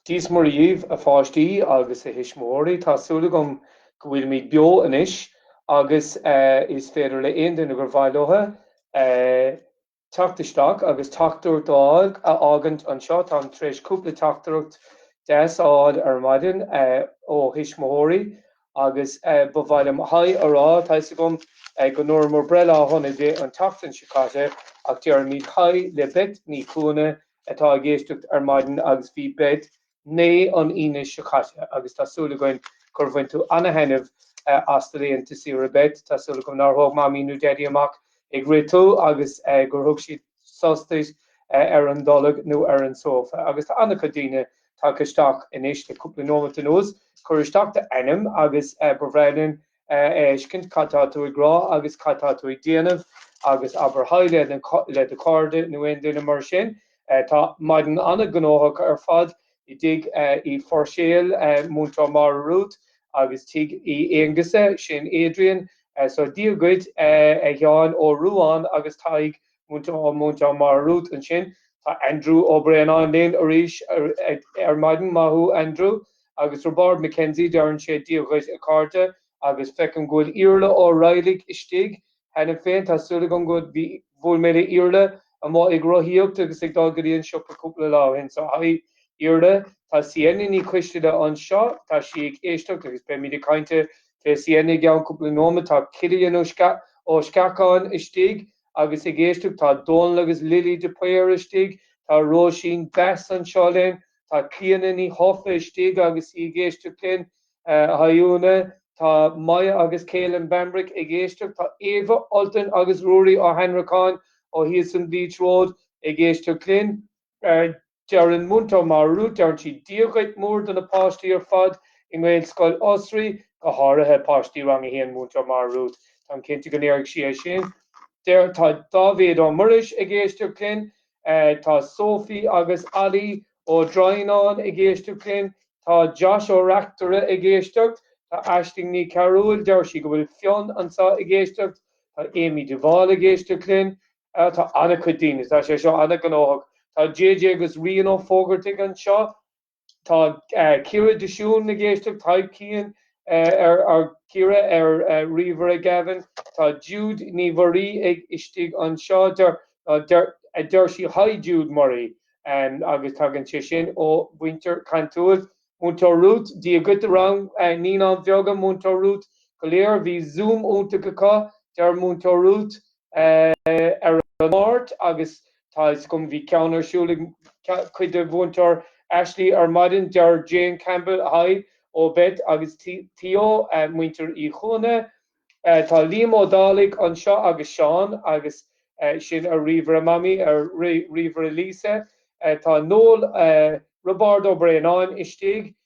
Dia 's Muire dhíbh, a pháistí agus a thuismitheoirí. Tá súil agam go bhfuilimid beo anois agus is féidir le aon duine gur mhaith leo, teacht isteach agus teachtaireacht a fhá-, a fhágaint anseo. Táim tar éis cúpla teachtaireacht deas a fháil ar maidin ó thuismitheoirí agus ba mhaith liom haigh a rá. Tá fhios agam go ndúramar breithlá sona di an tseachtain seo caite ach déarfaimid haigh le Beth Ní Chuana atá ag éisteacht ar maidin agus bhí Beth naoi an Aoine seo caite agus tá súil againn gur bhain tú an-thaitneamh as do laethanta saoire, Beth. Tá súil agam nár thóg Mamaí nó Daidí amach ag rith tú agus gur thug siad sos duit ar an dtolg nó ar an sófa. Agus tá an-chuid daoine tagtha isteach anois le cúpla nóimeat anuas. Cuir isteach d'ainm agus ba bhreá linn a fheiscint cad tá tú ag rá agus cad tá tú ag déanamh agus abair haigh le do chairde nó aon duine mar sin. Tá maidin an-ghnóthach ar fad i dTigh Uí Phuirséil, Múinteoir Máire Rút agus Tigh Uí Aonghusa, sin Adrian. So Dia dhuit a Sheáin Ó Ruáin agus Tadhg Múinteoir Máire Rút ansin. Tá Andrew Ó Braonáin linn arís ar maidin, maith thú Andrew. Agus Roibeárd McKenzie, deireann sé Dia dhaoibh a chairde. Agus feicim go bhfuil Iarla Ó Raghailligh istigh cheana féin, tá súil agam go bhfuil, bhuail mé le Iarla amuigh ag rothaíocht agus ag dul go dtí an siopa cúpla lá ó shin so haigh Iarla. Tá Sienna Ní Choisteala anseo, tá sí ag éisteacht agus beimid ag caint faoi Sienna i gceann cúpla nóimeat. Tá Cillian Ó Sceacháin istigh agus ag éisteacht, tá Dónall agus Lily de Paor istigh, tá Róisín Best anseo linn, tá Clíodhna Ní Thofa istigh agus í ag éisteacht linn, haigh Úna, tá Moya agus Caelan Bambrick ag éisteacht, tá Eva, Ultan agus Ruairí Ó hAnnracháin ó thíos an Beech Road ag éisteacht linn. Deireann Múinteoir Máire Rút, Deireann sí Dia dhuit mór do na páistí ar fad i nGaelscoil Osraí, go háirithe páistí Rang 1 Múinteoir Máire Rút, Táim cinnte go ndéarfaidh sí é sin. Tá Dáibhéad Ó Muiris ag éisteacht linn. Tá Sophie agus Ollie Ó Droighneáin ag éisteacht linn. Tá Josh Ó Reachtaire ag éisteacht. Tá Aisling Ní Chearúil, deir sí go bhfuil Fionn anseo ag éisteacht. Tá Amy de Bhál ag éisteacht linn. Tá an-chuid daoine, tá sé seo an-ghnóthach. Tá JJ agus Rian Ó Fógartaigh anseo, tá Ciara de Siún ann ag éisteacht, Tadhg Keane ar Ciara ar ríomhaire Gavin, tá Jude Ní Mhuirí istigh anseo, deir sí Hi Jude Murray agus tagann sé sin ó mhuintir Cantúil. Múinteoir Ruth, Dia dhuit rang Naíonáin Bheaga, Múinteoir Ruth, go léir, bhí Zoom iontach acu, deir Múinteoir Ruth. ar an Máirt agus tá 'fhios agam bhí ceann ar siúl ag cuid de Mhúinteoir Aisling ar maidin, deir Jane Campbell hi, ó Beit agus Theo, muintir Uí Chuana. Tá Liam Ó Dálaigh anseo agus Seán agus sin ar ríomhaire Mamaí, ar ríomhaire Lisa tá Nóra, Roibeárd Ó Braonáin istigh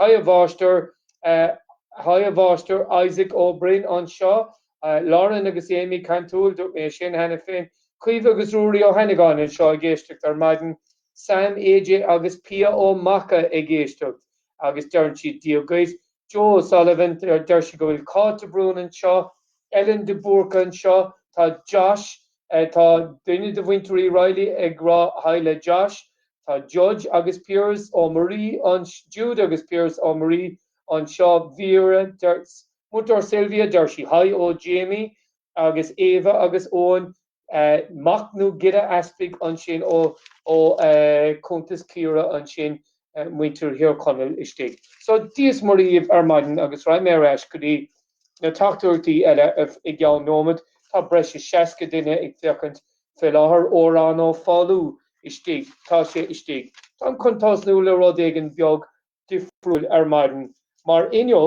Hi a Mháistir. Hi a Mháistir. Isaac Ó Broin anseo. Lauren agus Amy, Cantúil, dúirt mé sin cheana féin. Caoimhe agus Ruairí Ó hÉanagáin anseo ag éisteacht ar maidin. Sam, AJ agus Pia Ó Maca ag éisteacht agus deireann siad Dia dhuit. Joe O'Sullivan, deir sí go bhfuil Cáit de Brún anseo. Ellen de Búrca anseo. Tá Josh. Tá duine de mhuintir Uí Raghallaigh ag rá 'Haigh' le Josh. Tá Judge agus Piaras Ó Muirí anseo, Jude agus Piaras Ó Muirí anseo, Vera, Múinteoir Sylvia, deir sí 'Haigh' ó Jamie agus Ava agus Eoin Mac Giolla Easpaig ansin ó chuntas Chiara ansin, muintir Thír Chonaill istigh. So, Dia 's Muire dhíbh ar maidin agus rachaidh mé ar ais go dtí Na teachtaireachtaí eile i gceann nóiméad. Tá breis is seasca duine ag féachaint fé láthair, Odhrán Ó Foghlú istigh, tá sé istigh. Táim chun tosnú le rud éigin beag difriúil ar maidin, mar inniu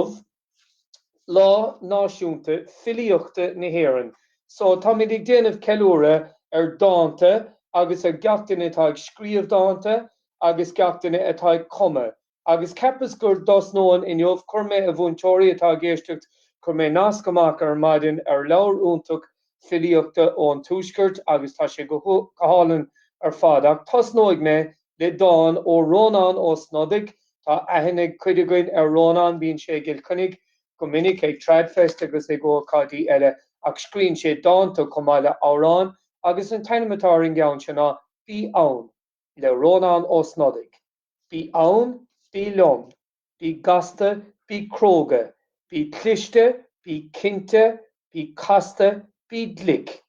Lá Náisiúnta Filíochta na hÉireann, so táimid ag déanamh ceiliúradh ar dánta agus ar gach duine atá ag scríobh dánta agus gach duine atá ag cumadh. Agus cheapas gur dtosnóinn inniu. Chuir mé, a mhúinteoirí atá ag éisteacht, chuir mé nasc amach ar maidin ar leabhar iontach filíochta ón Tuaisceart agus tá sé go hálainn ar fad. Ach tosnóidh mé le dán ó Rónán Ó Snodaigh. Tá aithne ag cuid againn ar Rónán, bíonn sé i gCill Chainnigh go minic ag Tradfest agus ag ócáidí eile, ach scríonn sé dánta chomh maith le amhráin agus an t-ainm atá ar an gceann seo ná Bí Ann, le Rónán Ó Snodaigh. Bí ann, bí liom, bí gasta, bí cróga, bí cliste, bí cinnte, bí casta, bí glic,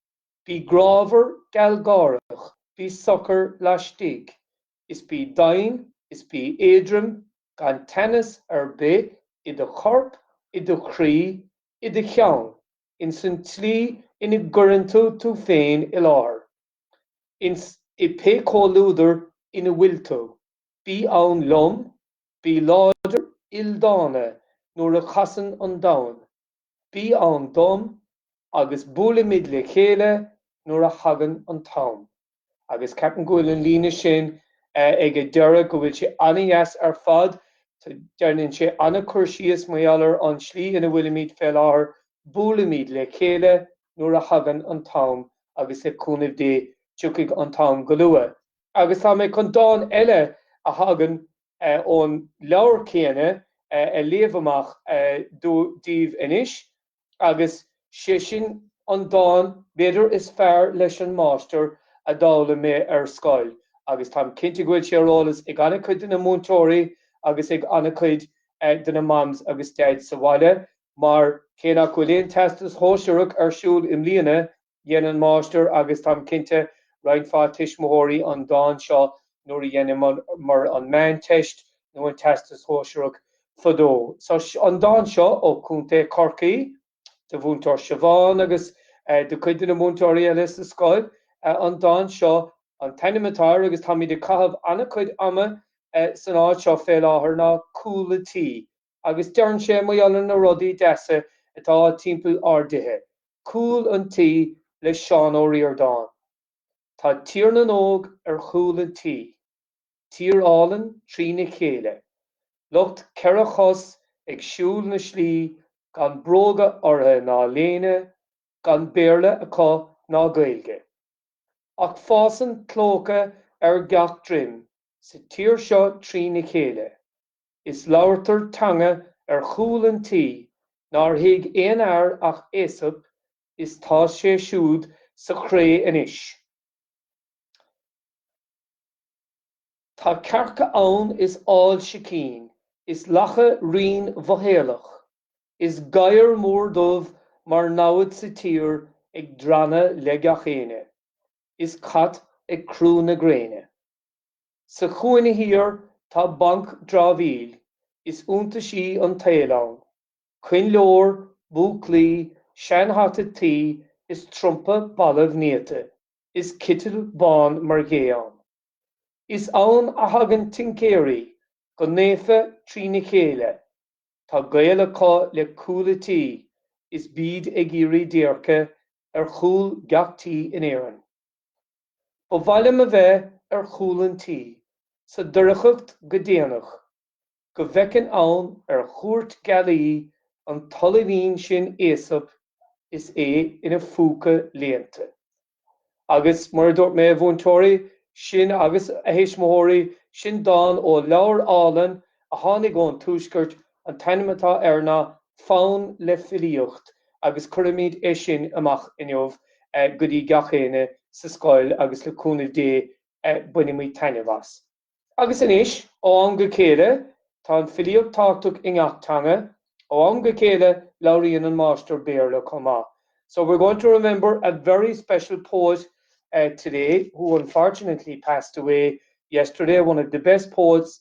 bí grámhar gealgháireach, bí socair laistigh, is bí doimhin, is bí éadroim, gan teannas ar bith i do chorp, i do chroí, i do cheann, insan tslí ina gcuireann tú tú féin i láthair. I pé comhluadar ina bhfuil tú, bí ann liom, bí láidir, ildána nuair a chasann an domhan, bí ann dom, agus buailfimid le chéile nuair a thagann an t-am. Agus ceapaim go bhfuil an líne sin ag an deireadh, go bhfuil sé an-deas ar fad, deineann sé an-cur síos, mar gheall ar an slí ina bhfuilimid fé láthair, buailfimid le chéile nuair a thagann an t-am. agus le cúnamh Dé tiocfaidh an t-am go luath. Agus tá mé chun dán eile a thagann ón leabhar céanna a léamh amach daoibh anois, agus sé sin an dán b'fhéidir is fearr leis an Máistir a d'fhoghlaim mé ar scoil, agus táim cinnte go bhfuil sé ar eolas ag an-chuid de na múinteoirí agus ag an-chuid de na Maims agus Daids sa bhaile, Mar, cé nach bhfuil aon Teastas Shóisearach ar siúl i mbliana, dhein an Máistir agus, táim cinnte, roinnt mhaith tuismitheoirí an dán seo nuair a dheineamar an Meánteist nó an Teastas Shóisearach fadó. So an dán seo, ó Chontae Chorcaí, do Mhúinteoir Siobhán agus do chuid de na múinteoirí eile sa scoil. An dán seo, an t-ainm atá air agus táimid ag caitheamh an-chuid ama san áit seo fé láthair ná Cúl an Tí. agus deireann sé mar gheall ar na rudaí deasa atá timpeall ár dtithe, Cúl an Tí le Seán Ó Ríordáin. Tá Tír na nÓg ar chúl an tí. Tír álainn trína chéile. Lucht ceithre chos ag siúl na slí gan bróga ortha ná léine, gan Béarla acu ná Gaeilge. Ach fásann clóca ar gach droim sa tír seo trína chéile. Is labhartar teanga ar chúl an tí nár thuig aon fhear ach Aesop is tá sé siúd sa chré anois. Tá cearca ann is ál sicín, is lacha righin mhothaolach, is gadhar mór dubh mar namhaid sa tír ag drannadh le gach éinne, is cat ag crú na gréine. Sa chúinne thiar tá banc dramhaíl is iontaisí an tsaoil ann, coinnleoir, búclaí, seanhata tuí is trumpa balbh néata is citeal bán mar ghé ann. Is ann a thagann tincéirí go naofa trína chéile, tá gaol acu le cúl an tí is bíd ag iarraidh déirce ar chúl gach tí in Éirinn. Ba mhaith liom a bheith ar chúl an tí, sa doircheacht go déanach, go bhfeicinn ann ar chuairt gealaí an t-ollaimhín sin Aesop is é ina phúca léannta. Agus, mar a dúirt mé, a mhúinteoirí, sin, agus a thuismitheoirí, sin dán ó leabhar álainn a tháinig ón Tuaisceart An t-ainm atá air ná Fonn le Filíocht agus cuirfimid é sin amach inniu go dtí gach éinne sa scoil agus le cúnamh Dé bainfimid taitneamh as. Agus anois, ó am go chéile, tá an filíocht tábhachtach i ngach teanga, ó am go chéile labhraíonn an máistir Béarla chomh maith. So we're going to remember a very special poet today who unfortunately passed away yesterday, one of the best poets,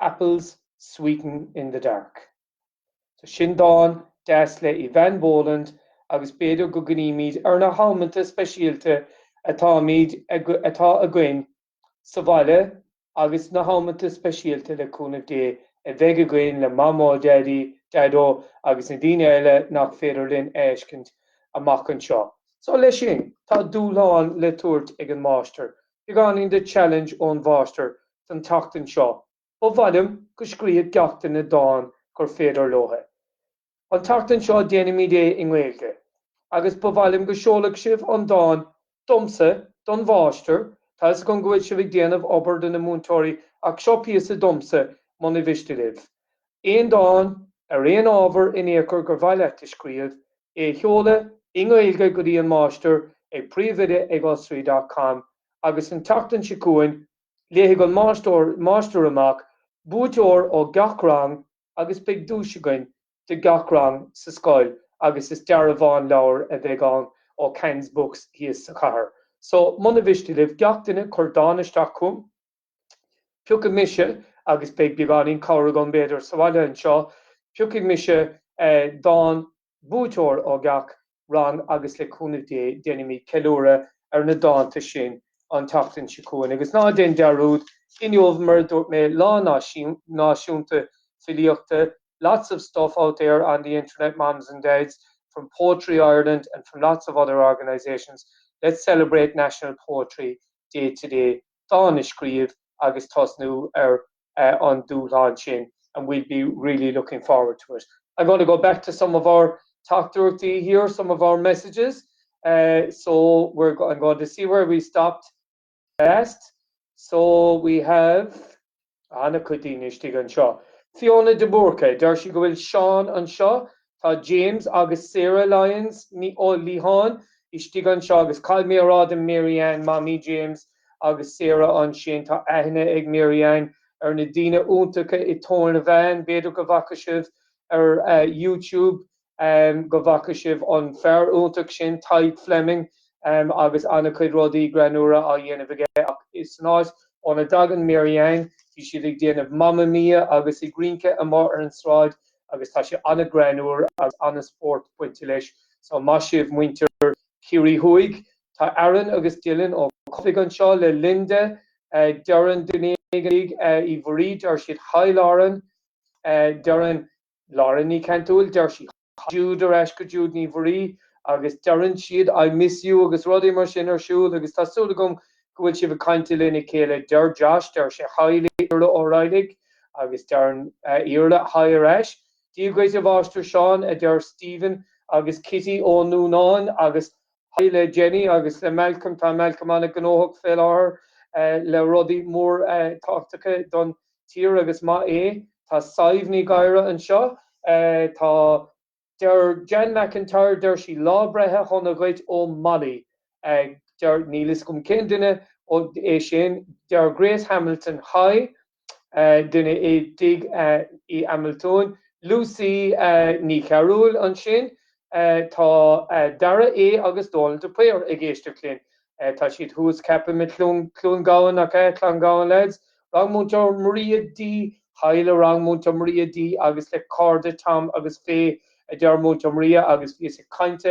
Apples Sweeten in the Dark. So sin dán deas le Eavan Boland agus b'fhéidir go gcuimhnímid ar na hamanta speisialta atáimid, atá againn, sa bhaile agus na hamanta speisialta, le cúnamh Dé, a bheidh againn le Mamó, Daidí, Daideo agus na daoine eile nach féidir linn a fheiscint amach anseo. So leis sin, tá dúshlán le tabhairt ag an máistir Beagáinín de challenge ón Mháistir don tseachtain seo. Ba mhaith liom go scríobhfadh gach duine dán gur féidir leotha. An tseachtain seo déanfaimid é i nGaeilge. Agus ba mhaith liom go seolfadh sibh an dán domsa don Mháistir, tá 'fhios agam go bhfuil sibh ag déanamh obair do na múinteoirí ach seo píosa domsa muna mhiste libh aon dán ar aon ábhar in ao'chor gur mhaith leat a scríobh, é a sheoladh i nGaeilge go dtí an máistir ag príomhoide ag osraí.com agus an tseachtain seo chugainn léifidh an máistir amach buaiteoir ó gach rang agus beidh duais againn do gach rang sa scoil agus is dearbhán leabhair a bheidh ann ó Khans Books thíos sa chathair so muna mhiste libh gach duine cur dán isteach chugam. Piocfaidh mise, agus beidh beagáinín cabhair agam, b'fhéidir, sa bhaile anseo, piocfaidh mise dán, buaiteoir ó gach rang agus le cúnamh Dé déanfaimid ceiliúradh ar na dánta sin an tseachtain seo chugainn. Agus ná déan dearúd, inniu, mar a dúirt mé, Lá Náisiúnta Filíochta, lots of stuff out there on the internet moms and dads, from Poetry Ireland and from lots of other organisations, let's celebrate National Poetry Day today. dán a scríobh agus tosnú ar an dúshlán sin and we'll be really looking forward to it. I'm going to go back to some of our teachtaireachtaí here, some of our messages. So we're I'm going to see where we stopped last. So we have. Tá ana chuid daoine istigh anseo. Fiona de Búrca, deir sí go bhfuil Seán anseo. Tá James agus Sarah Lyons, Ó Liatháin, istigh anseo agus caithfidh mé a rá do Mary Ann, Mamaí James agus Sarah ansin, tá aithne ag Mary Ann ar na daoine iontacha i Toornavean, b'fhéidir go bhfaca sibh ar YouTube, go bhfaca sibh an fear iontach sin Tadhg Fleming agus an-chuid rudaí greannúra á dhéanamh aige ach san áit óna dtagann Mary Anne bhí siad ag déanamh Mamma Mia agus ag rince amuigh ar an tsráid agus tá sé an-ghreannúr agus an-spórt bainte leis so maith sibh muintir Chiarraí Thuaidh. Tá Aaron agus Dylan Ó Cofaigh anseo le Linda, deireann duine éigin Uí Mhuirí deir siad haigh Lauren deireann Lauren Ní Chaintúil, deir sí, Jude ar ais go Jude Ní Mhuirí agus deireann siad I miss you agus rudaí mar sin ar siúl agus tá súil agam go bhfuil sibh ag caint lena chéile. Deir Josh, deir sé haigh le Iarla Ó Raghallaigh agus deireann Iarla haigh ar ais. Dia dhuit a Mháistir Seán a deir Stephen agus Kitty Ó Nuanáin agus Haigh le Jenny agus le Malcolm. Tá Malcolm an-ghnóthach fé láthair le rudaí móra tábhachtacha don tír agus maith é. Tá Sadhbh Ní Ghadhra anseo. Tá, deir Jean McIntyre, deir sí lá breithe sona dhuit ó Molly. Deir, níl fhios agam cén duine é sin. Deir Grace Hamilton, Haigh. duine i dTigh Uí Hamilton, Lucy Ní Chearbhaill ansin, tá Dara E agus Dónal de Paor ag éisteacht linn. Tá siad thuas ceapaim i gCluain Gabhann, nach ea? Cluain Gabhann lads, rang Múinteoir Maria D, haigh le rang Múinteoir Maria D agus le cairde Tom agus Faye a deir Múinteoir Maria agus bhíos ag caint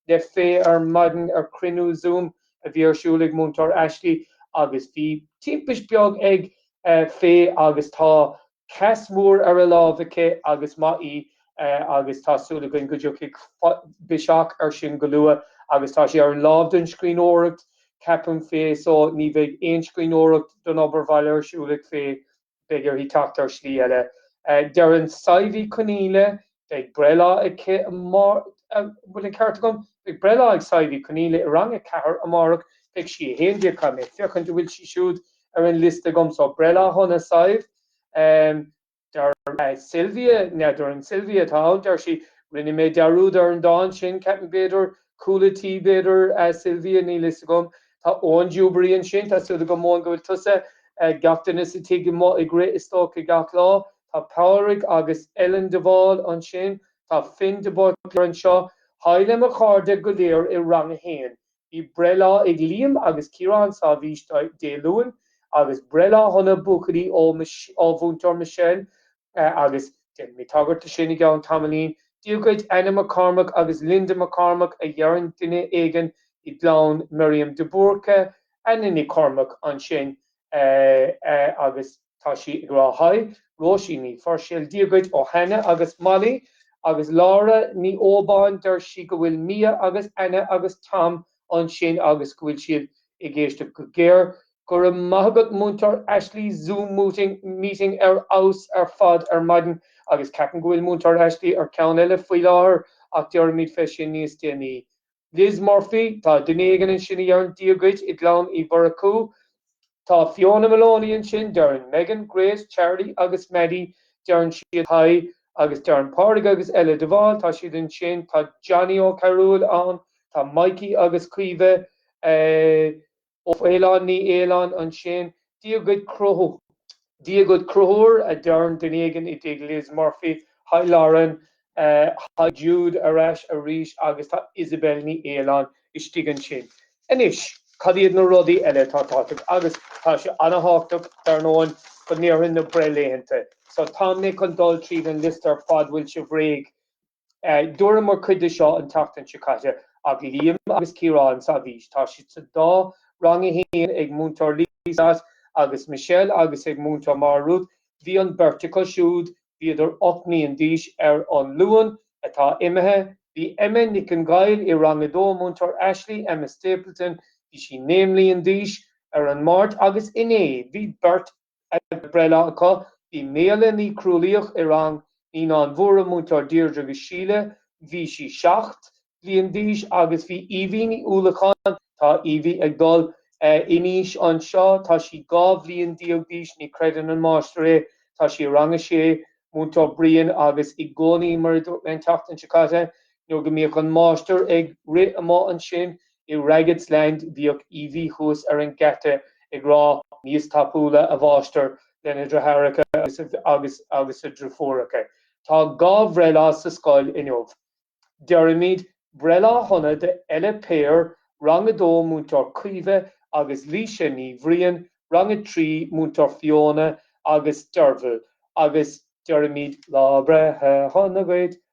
le Faye ar maidin ar chruinniú Zoom a bhí ar siúl ag Múinteoir Ashley agus bhí timpist beag ag Faye agus tá cast mór ar a láimh aici agus maith í agus tá súil againn go dtiocfaidh biseach ar sin go luath agus tá sé ar an láimh don scríbhneoireacht ceapaim Faye so ní bheidh aon scríbhneoireacht don obair bhaile ar siúl ag Faye Beidh uirthi teacht ar shlí eile. Deireann Sadhbh Ní Chonaola beidh breithlá aici, an bhfuil an ceart agam? Beidh breithlá ag Sadhbh Ní Chonaola i rang a ceathair amárach. Beidh sí a haon déag, caithfidh mé féachaint an bhfuil sí siúd ar an liosta agam. So breithlá shona, Sadhbh. Deir Sylvia, nó deireann Sylvia atá ann, deir sí, Rinne mé dearúd ar an dán sin, ceapaim, b'fhéidir, Cúla Tí b'fhéidir, a Sylvia, níl fhios agam. Tá an Dewberry ansin, tá súil agam, Eoin, go bhfuil tusa, gach duine sa tigh amuigh ag rith istoíche gach lá. Tá Pádraig agus Ellen de Bhál ansin. Tá Finn de Búrca anseo. Haigh le mo chairde go léir i Rang a hAon. Bhí breithlá ag Liam agus Ciarán Sáibhís Dé Luain, agus breithlá shona buachaillí ó Mhúinteoir Michelle, Agus déanfaidh mé tagairt do sin i gceann tamaillín. Dia dhuit, Anna McCormack agus Linda McCormack, a dheireann duine éigin i gclann Miriam de Búrca, Anna Nic Chormaic ansin, agus tá sí ag rá Haigh, Róisín Ní Phuirséil, Dia dhuit ó Hannah agus Molly, agus Laura Ní Óbáin, deir sí go bhfuil Mia agus Anna agus Tom ansin agus go bhfuil siad ag éisteacht go géar. Go raibh maith agat Múinteoir Ashley, Zoom mooting, meeting ar fheabhas ar fad ar maidin agus ceapaim go bhfuil Múinteoir Ashley ar ceann eile faoi láthair ach déarfaimid fé sin níos déanaí. Liz Murphy, tá duine éigin ansin a dheireann 'Dia dhuit' i gclann Uí Mhurchú. Tá Fiona Maloney ansin, deireann Meghan, Grace, Charlie agus Maddie, deireann siad Hi agus deireann Pádraig agus Ella de Bhál, tá siad ansin, tá Johnny Ó Cearúil ann, tá Mikey agus Caoimhe Ó Faoláin, Ní Fhaoláin, ansin, Dia dhuit Cruthú. Dia dhuit Cruthúr, a deireann duine éigin i dTigh Liz Murphy. Haigh Lauren. Haigh Jude ar ais arís agus tá Isabel Ní Fhaoláin istigh ansin. Anois, cad iad na rudaí eile atá tábhachtach? Agus tá sé an-thábhachtach, dar ndóigh, go ndéarfainn na breithlaethanta. So tá mé chun dul tríd an liosta ar fad, bhfuil sibh réidh? Dúramar cuid de seo an tseachtain seo caite ach Liam agus Ciarán Sáibhís, tá siad sa dá Rang a hAon ag Múinteoir Lisa agus Michelle agus ag Múinteoir Máire Ruth. Bhí an bheirt acu siúd, bhíodar ocht mbliain d'aois ar an Luan atá imithe. Bhí Emma Nic an Ghaill i Rang a Dó, Múinteoir Ashley, Emma Stapleton, bhí sí naoi mbliain d'aois, ar an Máirt agus inné bhí beirt breithlá acu, bhí Méala Ní Chrualaíoch i rang Naíonáin Mhóra Múinteoir Deirdre agus Síle. Bhí sí seacht bhliain d'aois agus bhí Evie Ní Uallacháin, tá Evie ag dul in aois anseo, tá sí dhá bhliain déag d'aois, ní chreideann an máistir é, tá sí i rang a sé Múinteoir Brian agus i gcónaí, mar an tseachtain seo caite, nuair go mbíodh an máistir ag rith amuigh ansin, I Ragged's Land bhíodh Evie thuas ar an geata ag rá níos tapúla, a mháistir, lena dritheáracha agus a driofúracha. Tá dhá bhreithlá sa scoil inniu. Deirimid breithlá shona do Ella Payer, Rang 2 Múinteoir Caoimhe agus Laoise Ní Bhriain, Rang 3 Múinteoir Fiona agus Derval agus deirimid lá breithe shona dhuit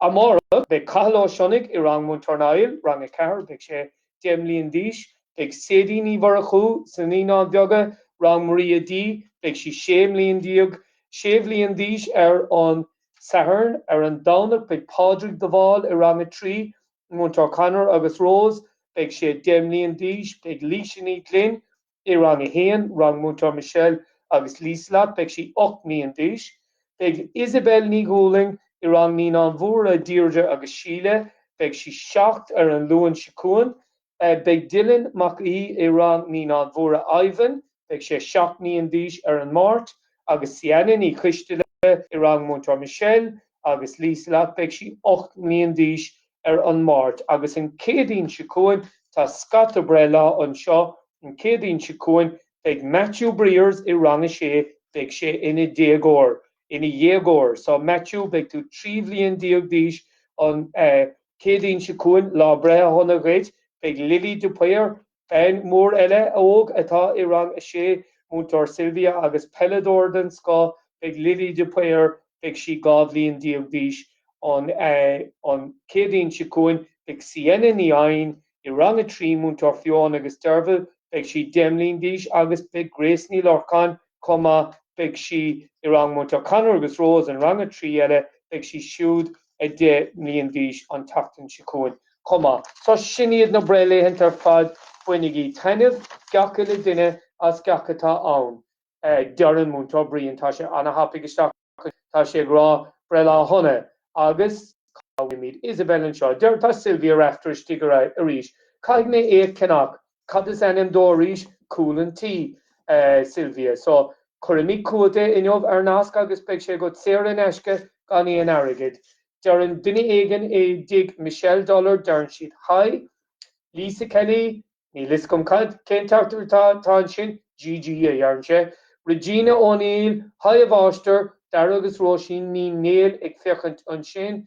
Amárach, beidh Cathal Ó Sionnaigh i rang Múinteoir Niall, Rang 4, beidh sé deich mbliana d'aois, beidh Sadie Ní Mhurchú sna Naíonáin Bheaga, Rang Maria D, beidh sí sé mbliana déag, sé bhliain d'aois ar an Satharn, ar an Domhnach beidh Pádraig de Bhál i Rang 3, Múinteoir Conor agus Rose, beidh sé deich mbliana d'aois, beidh Laoise Ní Ghlinn, I rang a haon, rang Múinteoir Michelle agus Lieselotte, beidh sí ocht mbliana d'aois. Beidh Isabelle Ní Dhúlaing i rang Naíonáin Mhóra, Deirdre agus Síle, beidh sí seacht ar an Luan seo chugainn. Beidh Dylan Mac Aoidh i rang Naíonáin Mhóra Ivan, beidh sé seacht mbliana d'aois ar an Máirt, agus Sienna Ní Choistealbha i rang Múinteoir Michelle agus Lieselotte, beidh sí ocht mbliana d'aois ar an Máirt agus an Chéadaoin seo chugainn tá scata breithlá anseo, an Chéadaoin seo chugainn beidh Matthew Briers i rang a sé, beidh sé ina déagóir, ina dhéagóir, so Matthew beidh tú trí bhliain déag d'aois an eh Chéadaoin seo chugainn, lá breithe sona dhuit, beidh Lily de Paor, Bean mhór eile óg atá i rang a sé, Múinteoir Sylvia agus peileadóir den scoth beidh Lily de Paor, beidh sí dhá bhliain déag d'aois. An Céadaoin seo chugainn beidh Sienna Ní Eidhin i rang a trí, Múinteoir Fionn agus Dervla, beidh sí deich mbliana d'aois agus beidh Grace Ní Lorcáin, chomh maith, beidh sí i rang Múinteoir Conor agus Rose an rang a trí eile, beidh sí siúd a deich mbliana d'aois an tseachtain seo chugainn chomh maith. So sin iad na breithlaethanta ar fad, bainigí taitneamh gach uile duine as gach atá ann. Deireann Múinteoir Brian, tá sé ana-thapaidh isteach. Tá sé ag rá breithlá sona agus cá bhfuilimid? Isabel anseo. Deir, tá Sylvia Rafter istigh arís. Caithfidh mé é a cheannach. Cad is ainm dó arís? Cúl an Tí, a Sylvia. So, cuirfimid chugat é inniu ar nasc agus beidh sé agat saor in aisce gan aon airgead. Deireann duine éigin i dtigh Michelle Dollar, deireann siad Haigh, Lisa Kelly. Níl fhios agam cén teachtaireacht atá ansin, GG, a deireann sé. Regina O'Neill, Hi a Mháistir, Daragh agus Róisín Ní Néill ag féachaint ansin.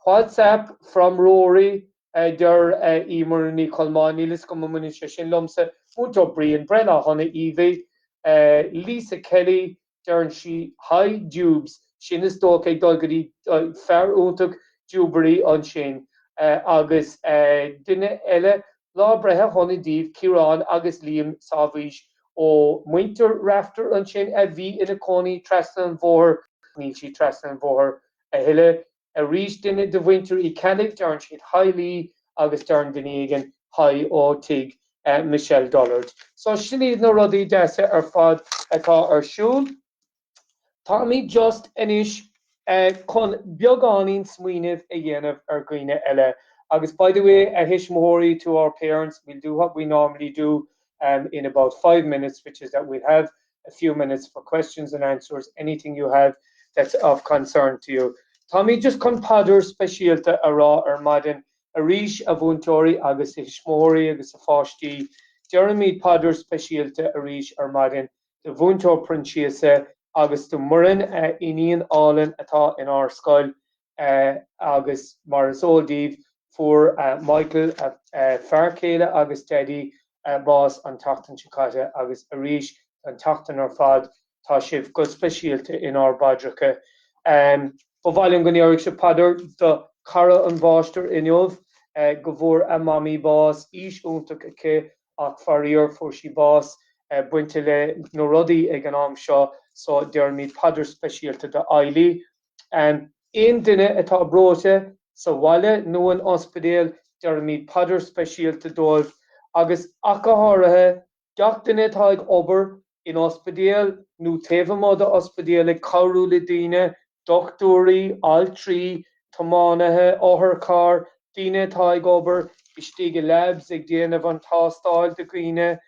WhatsApp from Rory, a deir Eimear Ní Cholmáin, níl fhios agam an mbaineann sé sin liomsa. Múinteoir Brian, breithlá sona Evie, Lisa Kelly, deireann sí Hi Jubes, sin is dócha ag dul go dtí fear iontach Jubery ansin, agus duine eile lá breithe sona daoibh Ciarán agus Liam Sábhaois ó mhuintir Rafter ansin a bhí ina cónaí trasna an bhóthair, níl sí trasna an bhóthair a thuilleadh. arís duine de mhuintir Uí Ceallaigh, deireann siad hi libh agus deireann duine éigin hi ó tigh Michelle Dollard. So sin iad na rudaí deasa ar fad atá ar siúl. Táimid just anois chun beagáinín smaoineamh a dhéanamh ar dhaoine eile. Agus by the way, a thuismitheoirí, to our parents, we'll do what we normally do in about five minutes, which is that we'll have a few minutes for questions and answers, anything you have that's of concern to you. Táimid just chun paidir speisialta a rá ar maidin arís a mhúinteoirí agus a thuismitheoirí agus a pháistí. Deirimid paidir speisialta arís ar maidin do Mhúinteoir Proinsiasa agus do Muireann, a iníon álainn atá inár scoil. Agus mar is eol daoibh, fuair Michael, a fear céile agus Daidí, bás an tseachtain seo caite agus arís an tseachtain ar fad, tá sibh go speisialta inár bpaidreacha. Ba mhaith liom go ndéarfadh sibh paidir do chara an Mháistir inniu, go bhfuair a Mamaí bás, aois iontach aici ach faraor fuair sí bás bainte le na rudaí ag an am seo, so deirimid paidir speisialta do Eilidh. Aon duine atá breoite, sa bhaile nó in ospidéal, deirimid paidir speisialta dóibh, agus ach go háirithe, gach duine atá ag obair in ospidéal nó taobh amuigh d'ospidéal ag cabhrú le daoine, dochtúirí, altraí, tiománaithe otharcharr, daoine atá ag obair istigh i labs ag déanamh an tástáil do dhaoine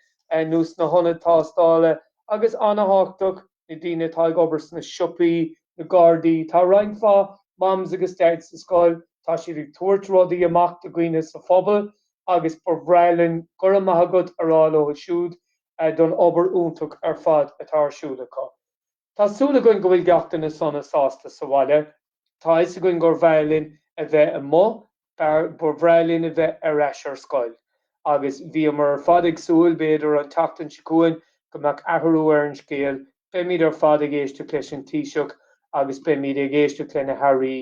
nó sna hionaid tástála, agus ana-thábhachtach, na daoine atá ag obair sna siopaí, na gardaí, tá roinnt mhaith Mams agus Dads sa scoil, tá siad ag tabhairt rudaí amach do dhaoine sa phobal agus ba bhreá linn 'Go raibh maith agat' a rá leo siúd don obair iontach ar fad atá ar siúl acu. Tá súil againn go bhfuil gach duine sona sásta sa bhaile. Tá a fhios againn gur bhreá linn a bheith amuigh, ba bhreá linn a bheith ar ais ar scoil. Agus bhíomar ar fad ag súil, b'fhéidir, an tseachtain seo chugainn go mbeadh athrú ar an scéal, beimid ar fad ag éisteacht leis an Taoiseach agus beimid ag éisteacht le na hAirí,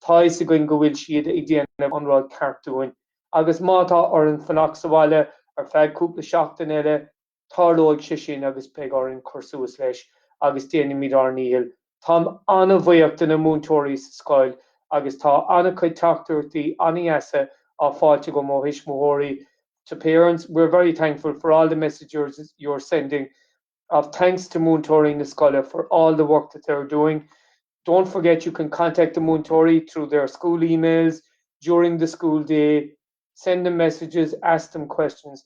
tá a fhios againn go bhfuil siad ag déanamh an rud ceart dúinn. Agus má tá orainn fanacht sa bhaile ar feadh cúpla seachtain eile, Tarlóidh sé sin agus beidh orainn cur suas leis agus déanfaimid ár ndícheall. Táim an-bhuíoch de na múinteoirí sa scoil agus tá an-chuid teachtaireachtaí an-dheasa á fáilt agam ó thuismitheoirí to parents, We're very thankful for all the messages you're sending of thanks to múinteoirí na scoile for all the work that they're doing. Don't forget you can contact the múinteoirí through their school emails during the school day. Send them messages, ask them questions.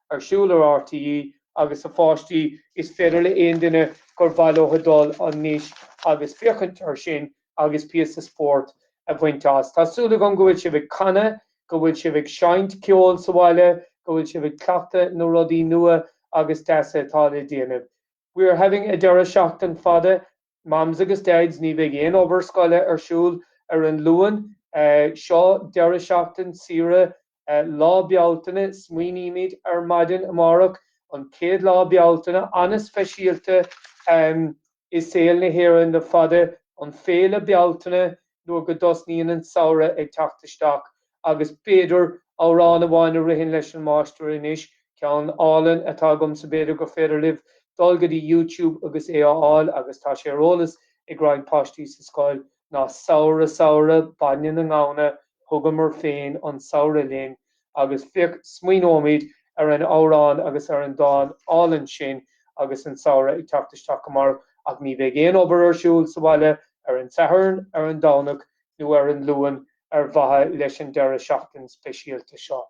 ar siúl ar RTÉ agus a pháistí, is féidir le haon duine gur mhaith leo dul anois agus féachaint air sin agus píosa spóirt a bhaint as. Tá súil agam go bhfuil sibh ag canadh, go bhfuil sibh ag seinnt ceoil sa bhaile, go bhfuil sibh ag cleachtadh na rudaí nua agus deasa atá le déanamh. We are having a deireadh seachtain fada. Mams agus Dads, ní bheidh aon obair scoile ar siúl ar an Luan seo, deireadh seachtain saoire Lá Bealtaine. Smaoinímid ar maidin amárach, an chéad lá Bealtaine, an-speisialta i saol na hÉireann le fada, an Féile Bealtaine. nuair go dtosnaíonn an samhradh ag teacht isteach, agus b'fhéidir amhrán amháin a ritheann leis an máistir anois, ceann álainn atá agamsa, b'fhéidir gur féidir libh dul go dtí YouTube agus é a fháil, agus tá sé ar eolas ag roinnt páistí sa scoil, ná Samhradh, samhradh, bainne na ngamhna, Thugamar féin an samhradh linn. Agus féach, smaoineoimid ar an amhrán agus ar an dán álainn sin agus an samhradh ag teacht isteach amárach, ach ní bheidh aon obair ar siúl sa bhaile ar an Satharn, ar an Domhnach nó ar an Luan ar mhaithe leis an deireadh seachtain speisialta seo.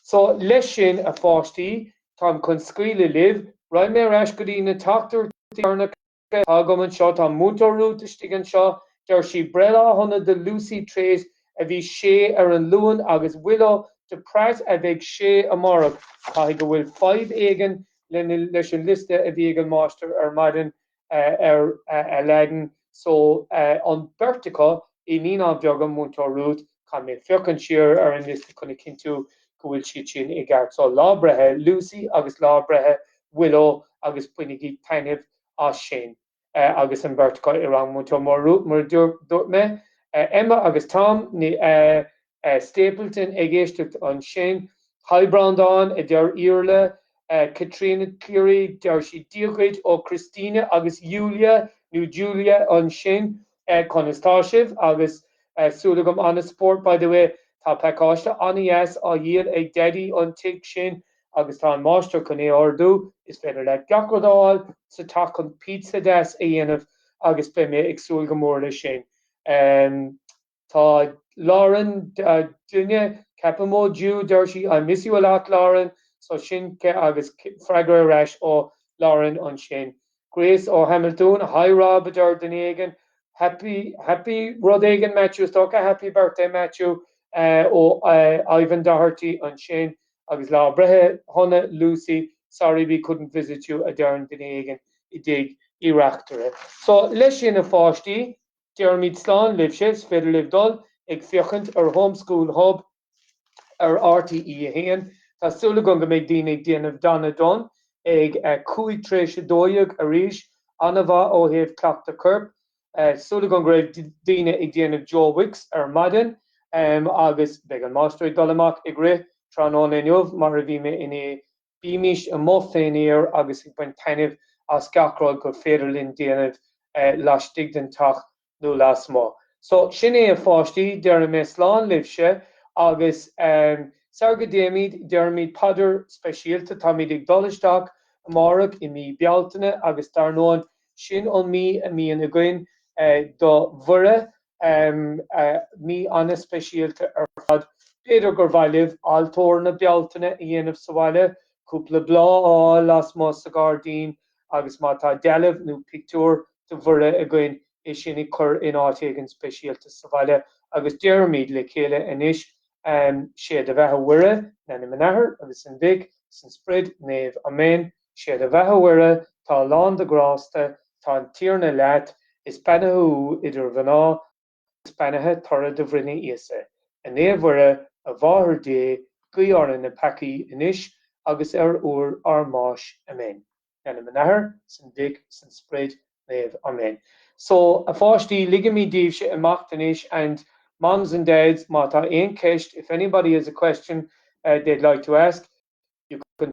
So, leis sin, a pháistí, táim chun scaoileadh libh. Right, mé ar ais go dtí na teachtaireachtaí. Tá agam anseo, tá Múinteoir Rút istigh anseo, deir sí, breithlá shona do Lucy Treat a bhí sé ar an Luan agus Willow de Praet a bheidh sé amárach. Caithfidh go bhfuil fadhb éigin leis an liosta a bhí ag an máistir ar maidin ar Aladdin so an beirt acu, i Naíonáin Bheaga, Múinteoir Rút, Caithfidh mé féachaint siar ar an liosta chun a chinntiú go bhfuil siad sin i gceart. So, lá breithe Lucy agus lá breithe Willow agus bainigí taitneamh as sin agus an bheirt acu i rang Múinteoir Rút mar a dúirt mé Emma agus Tom Stapleton ag éisteacht ansin. Haigh Breandán, a deir Iarla. Caitríona Cleary, deir siad Dia dhuit ó Christina agus Julia nó Julia ansin. Conas tá sibh? Agus súil agam an-spórt By the way, tá pacáiste an-deas á dhíol ag Daidí an tigh sin agus tá an máistir chun é a ordú, is féidir leat gach rud a fháil sa teach chun pizza deas a dhéanamh agus beidh mé ag súil go mór leis sin. Tá Lauren ó duine, ceapaim ó Ju, deir sí I miss you a lot, Lauren, so sin agus freagra ar ais ó Lauren ansin. Grace Ó Hamiltún Hi Rob, a deir duine éigin. Happy, happy rud éigin Matthew, is dócha happy birthday Matthew ó Ivan Doherty ansin. Agus lá breithe shona Lucy, sorry we couldn't visit you a deireann duine éigin i dTigh Uí Reachtaire. So leis sin a pháistí. Déarfaimid slán libhse, is féidir libh dul ag féachaint ar Home School Hub ar RTÉ a hAon. Tá súil agam go mbeidh daoine ag déanamh Donna Dunne ag cúig tar éis a dó dhéag arís, an-mhaith ó thaobh cleachtadh coirp. Súil agam go raibh daoine ag déanamh Joe Wicks ar maidin agus beidh an máistir ag dul amach ag rith tráthnóna inniu mar a bhí mé inné. Bímis amuigh fén aer agus ag baint taitnimh as gach rud gur féidir linn déanamh laistigh den teach nó lasmuigh. So, sin é a pháistí, déarfaidh mé slán libhse agus sara dtéimid, déarfaimid paidir speisialta, táimid ag dul isteach amárach i mí Bealtaine agus dar ndóin, sin an mí a mbíonn againn do Mhuire Mí ana-speisialta ar fad. B'fhéidir gur mhaith libh altóir na Bealtaine a dhéanamh sa bhaile, cúpla bláth a fháil lasmuigh sa ghairdín agus má tá dealbh nó pictiúr de Mhuire agaibh, é sin a chur in áit éigin speisialta sa bhaile agus déarfaimid le chéile anois, 'Sé do bheatha a Mhuire, In ainm an Athar agus an Mhic, is an Sprid Naomh. Amen. Sé do bheatha a Mhuire tá lán de ghrásta tá an Tiarna leat is beannaithe thú idir mhná is beannaithe toradh do bhroinne Íosa. A Naomh Mhuire, a Mháthair Dé, guigh orainn na peacaí anois agus ar uair ár mbáis. Amen. In ainm an Athar, is an Mhic, is an Sprid Naomh. Amen. So, a pháistí, ligfimid daoibhse imeacht anois and Moms and Dads má tá aon cheist if anybody has a question they'd like to ask you can.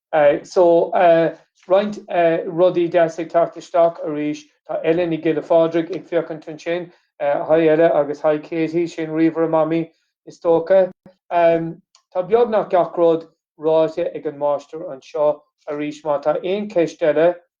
So, roinnt rudaí deasa ag teacht isteach arís. Tá Ella Ní Giolla Phádraig ag féachaint ansin. Hi Ella agus hi Katie, sin ríomhaire Mamaí is dócha. Tá beagnach gach rud ráite ag an máistir anseo arís. Má tá aon cheist eile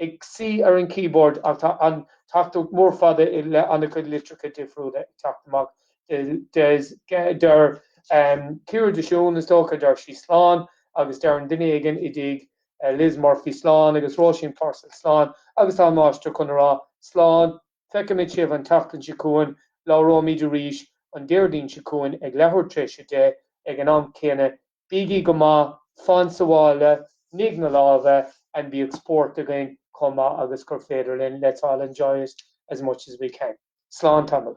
ag suí ar an keyboard ach tá an tachtaireacht mhór fada i leith ana-chuid litreacha difriúla ag teacht amach. Deir Ciara de Siún, is dócha, deir sí slán agus deireann duine éigin i dTigh Liz Murphy slán agus Róisín Purcell slán agus tá an máistir chun a rá slán, feicfimid sibh an tseachtain seo chugainn, labhróimid arís an Déardaoin seo chugainn ag leathuair tar éis a deich ag an am céanna Bígí go maith, fan sa bhaile, nigh na lámha and bíodh spórt againn chomh maith agus gur féidir linn, let's all enjoy it as much as we can. Slán tamall.